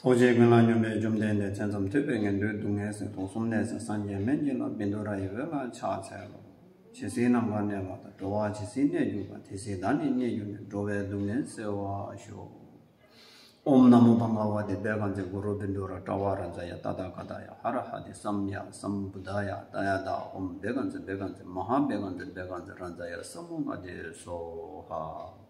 ཐུགས་རྗེའི་ཀུན་སློང་སྙོམས་པའི་བཅོམ་ལྡན་འདས་བྱེ་མཚམས་ཐོད་པའི་ངན་འགྲོའི་སྡུག་བསྔལ་སེལ་དུག་གསུམ་ནད་སེལ་སངས་རྒྱས་སྨན་གྱི་བླ་བིནྡུ་ར་ཡི་འོད་ལ་ཕྱག་འཚལ་ལོ། ཇི་སྲིད་ནམ་མཁར་གནས་པ་དང་འགྲོ་བ་ཇི་སྲིད་གནས་གྱུར་པ་དེ་སྲིད་བདག་ནི་གནས་གྱུར་ནས་འགྲོ་བའི་སྡུག་བསྔལ་སེལ་བར་ཤོག། ཨོམ་ནམ་མོ་བ་ངག་བ་དེ་བས་གང་ཚེ་གུ་རུ་བིནྡུ་ར་ཏྲ་བ་ར་འཛ་ཡ་ཏཱ་ཏཱ་ག་ཏཱ་ཡ་ཧ་ར་ཧ་དེ་སམ་ཡ་སམ་བུ་དཱ་ཡ་ཏཱ་ཡ་ཏཱ་ཨོམ་བས་གང་ཚེ་བས་གང་ཚེ་མ་ཧཱ་བས་གང་ཚེ་བས་གང་ཚེ་ར་འཛ་ཡ་སམ་མོ་ག་དེ་སོ་ཧ།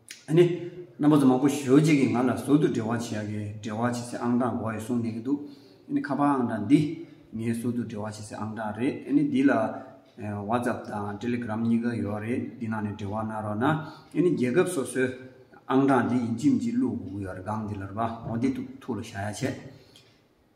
ཨ་ནི། རྣམ་པ་ཚོ་མང་པོ་ཞོལ་གཅིག་གིས་ང་ལ་ཟུར་དུ་འབྲེལ་བ་བྱེད་ཡག་གི་འབྲེལ་བ་བྱེད་སའི་ཨང་གྲངས་འགོ་ཡི་གསུངས་གནང་གི་འདུག་ཨ་ནི་ཁ་པར་ཨང་གྲངས་འདི་ངའི་ཟུར་དུ་འབྲེལ་བ་བྱེད་སའི་ཨང་གྲངས་རེད་ཨ་ནི་འདི་ལ། WhatsApp དང Telegram གཉིས་ཀ་ཡོད་རེད་འདི་ནང་ནས་འབྲེལ་བ་གནང་རོགས་གནང་ཨ་ནི་རྒྱལ་ཁབ་སོ་སོའི་ཨང་གྲངས་འདི་ཡིན་གཅིག་མིན་གཅིག་བླུག་དགོས་ཀྱི་ཡོད་རེད་སྒང་འདི་ལ་རུ་པ་ཧོ་འདི་ཐུག་ལ་བཞག་ཡ་ཆད།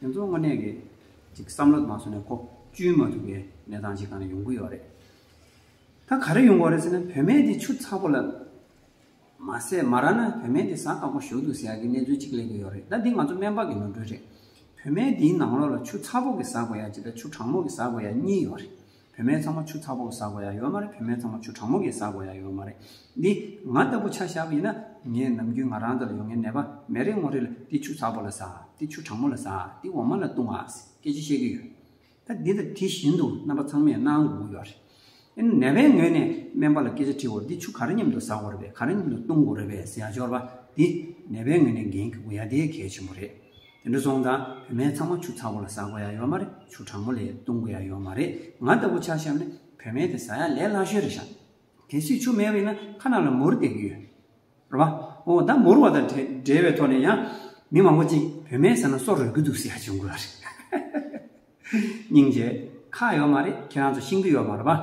དེ་ཚོ་དངོས་གནས་ཀྱི་ཅིག་བསམ་བློ་དང་སོ་ནས་ཁོག་བཅུན་མ་ཐུབ་པའི་གནས་སྟངས་ཅིག་གང་ན་ཡོང་གི་ཡོད་རེད། ད་ག་རེ་ཡོང་གི་རེད་ཟེར་ན་བུད་མེད་དེ་ཆུ་ཚ་པོ་ལ་མ་ཟས་མ་རག་ན་བུད་མེད་དེ་བཟའ་དཀའ་པོ་ཞོག་འདུག་ཟེར་ཡག་གི་གནས་ཚུལ་ཅིག་གླེང་གི་ཡོད་རེད་ད་འདི་ང་ཚོ་སྨན་པ་གི་ནོར་འཁྲུལ་རེད། བུད་མེད་དེའི་ནང་ལོགས་ལ་ཆུ་ཚ་པོ་གི་ཟ་དགོས་ཡ་ཇི་ལྟར་ཆུ་གྲང་མོ་གི་ཟ་དགོས་ཡ་གཉིས་ཡོད་རེད། བུད་མེད་ཚང་མ་ཆུ་ཚ་པོ་བཟའ་དགོས་ཡ་ཡོད་མ་རེད་བུད་མེད་ཚང་མ་ཆུ་གྲང་མོ་གི་བཟའ་དགོས་ཡ་ཡོད་མ་རེད། འདི་ང་ལྟ་བུ་ཆ་ཞག་ཡིན་ན་ངས་ནམ་རྒྱུན་ང་རང་འདི་ལ་ཡོང་ངའི་ནད་པ་མེད་རེ་ངོ་རེ་ལ་འདི་ཆུ་ཚ་པོ་ལ་བཟའ་འདི་ཆུ་གྲང་མོ་ལ་བཟའ་འདི་འོ་མ་ལ་བཏུང་ཨ་ཟེར་སྐད་ཆ་བཤད་ཀྱི་ཡོད། ད་འདི་ལྟར་དེ་བཞིན་དུ་རྣམ་པ་ཚང་མས་གནང་དགོས་ཀྱི་ཡོད་རེད། ཨེ་ན་ནད་པའི་ངོས་ནས་སྨན་པ་ལ་སྐད་ཆ་དྲིས་འོ་འདི་ཆུ་ག་རེ་མཉམ་དུ་བཟའ་དགོས་རེད་པས་ག་རེ་མཉམ་དུ་བཏུང་དགོས་རེད་པས་ཟེར་ཡ་སྦྱོར་བ་འདི་ནད་པའི་ངོས་ནས་འགན་འཁུར་དགོས་ཡ་དེ་གལ་ཆེན་པོ་རེད། དེ་འདྲ་སོང་དང་བུད་མེད་ཚང་མ་ཆུ་ཚ་བོ་ལ་ཟ་དགོས་ཡ་ཡོད་མ་རེད་ཆུ་གྲང་མོ་ལས་བཏུང་དགོས་ཡ་ཡོད་མ་རེད་ང་ལྟ་བུ་ཆ་ཤམ་ནི་བུད་མེད་དེ་ཟ་ཡ་ལས་སླ་ཤོས་རེད་ཤག་གལ་སྲིད་ཆུ་མེད་པ་ཡིན་ན་ཁ་ནང་ལ་མུར་བསྡད་ཀྱི་ཡོད་རེད་བ་འོ་ད་མུར་བ་དང་བྲལ་བའི་ཐོག་ནས་ཡང་མི་མང་པོ་ཅིག་བུད་མེད་ཟ་ན་སྲོག་རོལ་གྱི་འདུག་ཟེར་ཡ་བྱུང་དགོས་བ་རེད་སྙིང་རྗེ། ཁག་ཡོད་མ་རེད་ཁྱེད་རང་ཚོ་ཤིང་གི་ཡོད་མ་རེད་བ།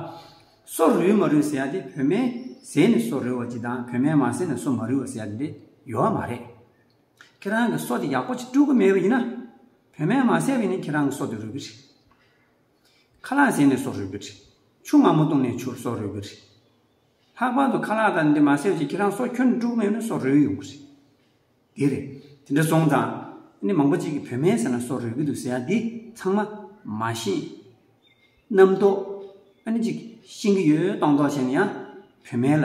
སྲོག་རུལ་མ་རུལ་ཟེར་ཡ་དེ་བུད་མེད་ཟས་ནི་སྲོག་རུལ་བ་ཅིག་དང་བུད་མེད་མ་ཟས་ནི་སྲོག་མ་རུལ་བ་ཟེར་ཡ་དེ་འདྲ་ཡོད་མ་རེད། ཁྱེད་རང་གི་སྲོག་དེ་ཡག་པོ་ཅིག་སྤྲོད་གི་མེད་པ་ཡིན་ན། བུད་མེད་མ་བསད་པས་ནི་ཁྱེད་རང་གི་སྲོག་དེ་རུལ་གི་རེད། ཁ་ལག་བཟས་ནས་སྲོག་རུལ་གི་རེད། ཆུ་མང་པོ་བཏུང་ནས་ཆུར་སྲོག་རུལ་གི་རེད། ལྷག་པར་དུ་ཁ་ལག་དང་འདི་མ་བསད་ཅིག་ཁྱེད་རང་སྲོག་ཁྱོད་ནས་སྤྲོད་གི་མེད་པས་སྲོག་རུལ་ཡོང་གི་རེད། འདི་རེད། དེ་འདྲ་སོང་ཙང། ནི་མང་པོ་ཅིག་གིས་བུད་མེད་ཟེར་ན་སྲོག་རུལ་གི་འདུག་ཟེར་ཡང་འདི་ཚང་མ། མ་ཤེས། རྣམ་རྟོག། ཨ་ནི་ཅིག། ཤེས་གི་ཡོད་སྟོང་རྟོག་བྱས་ན་ཡང། བུད་མེད་ལ།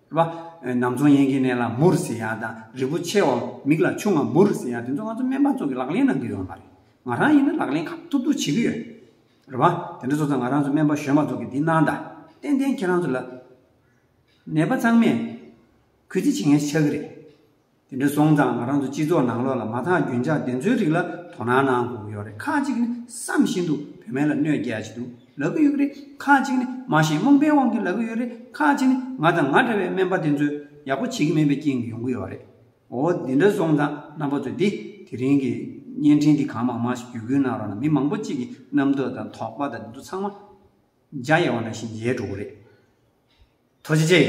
པ། ནམ་ཚོང་ཡན་གྱི་གནས་ལ་མུ་རུ་སི་ཡ་དང་རི་བོ་ཆེ་བ་མིག་ལ་ཆུང་བ་མུ་རུ་སི་ཡ་དེ་ཚོ་ང་ཚོ་སྨན་པ་ཚོ་གི་ལག་ལེན་ནང་གི་ཡོད་མ་རེད། ང་རང་ཡིན་ན་ལག་ལེན་ཁག་ཐུབ་ཐུབ་བྱེད་ཀྱི་ཡོད། རེད་པ། དེ་འདྲ་ཚོ་ཚོ་ང་རང་ཚོ་སྨན་པ་གཞོན་པ་ཚོ་གི་འདི་གནང་ད། ཏན་ཏན་ཁྱེད་རང་ཚོ་ལ། ནད་པ་ཚང་མས་གུས་བརྩི་བྱེད་མཁན་ཆགས་ཀྱི་རེད། དེ་འདྲ་སོང་ཙང་ང་རང་ཚོ་སྤྱི་ཚོགས་ནང་ལོགས་ལ་མ་ཐག་རྒྱུན་འཇགས་བདེན་འཚོལ་རིགས་ལ་དོ་སྣང་གནང་དགོས་ཀྱི་ཡོད་རེད་ཁག་ཅིག་ནི་བསམ་བཞིན་དུ་བུད་མེད་ལ་གནོད་རྒྱལ་གྱི་འདུག་ལབ་ཀྱི་ཡོད་རེད་ཁག་ཅིག་ནི་མ་ཤེས་རྨོངས་པའི་དབང་གིས་ལབ་ཀྱི་ཡོད་རེད་ཁག་ཅིག་ནི་ང་དང་ང་འདྲ་བའི་སྨན་པ་བདེན་འཚོལ་ཡག་པོ་བྱེད་ཀྱི་མེད་པའི་རྐྱེན་གྱིས་ཡོང་གི་ཡོད་རེད་འོ་དེ་འདྲ་སོང་ཙང་རྣམ་པ་ཚོས་དེ་དེ་རིང་གི་བརྙན་འཕྲིན་འདི་གང་མང་མང་ཞིག་བརྒྱུད་སྐུལ་གནང་རོགས་གནང་མི་མང་པོ་གཅིག་གི་རྣམ་རྟོག་དང་དོགས་པ་དང་དེ་ཚོ་ཚང་མ་འཇའ་ཡལ་བ་འདྲ་བཞིན་ཡལ་འགྲོ་གི་རེད། ཐོ་ཇེ་ཇེ།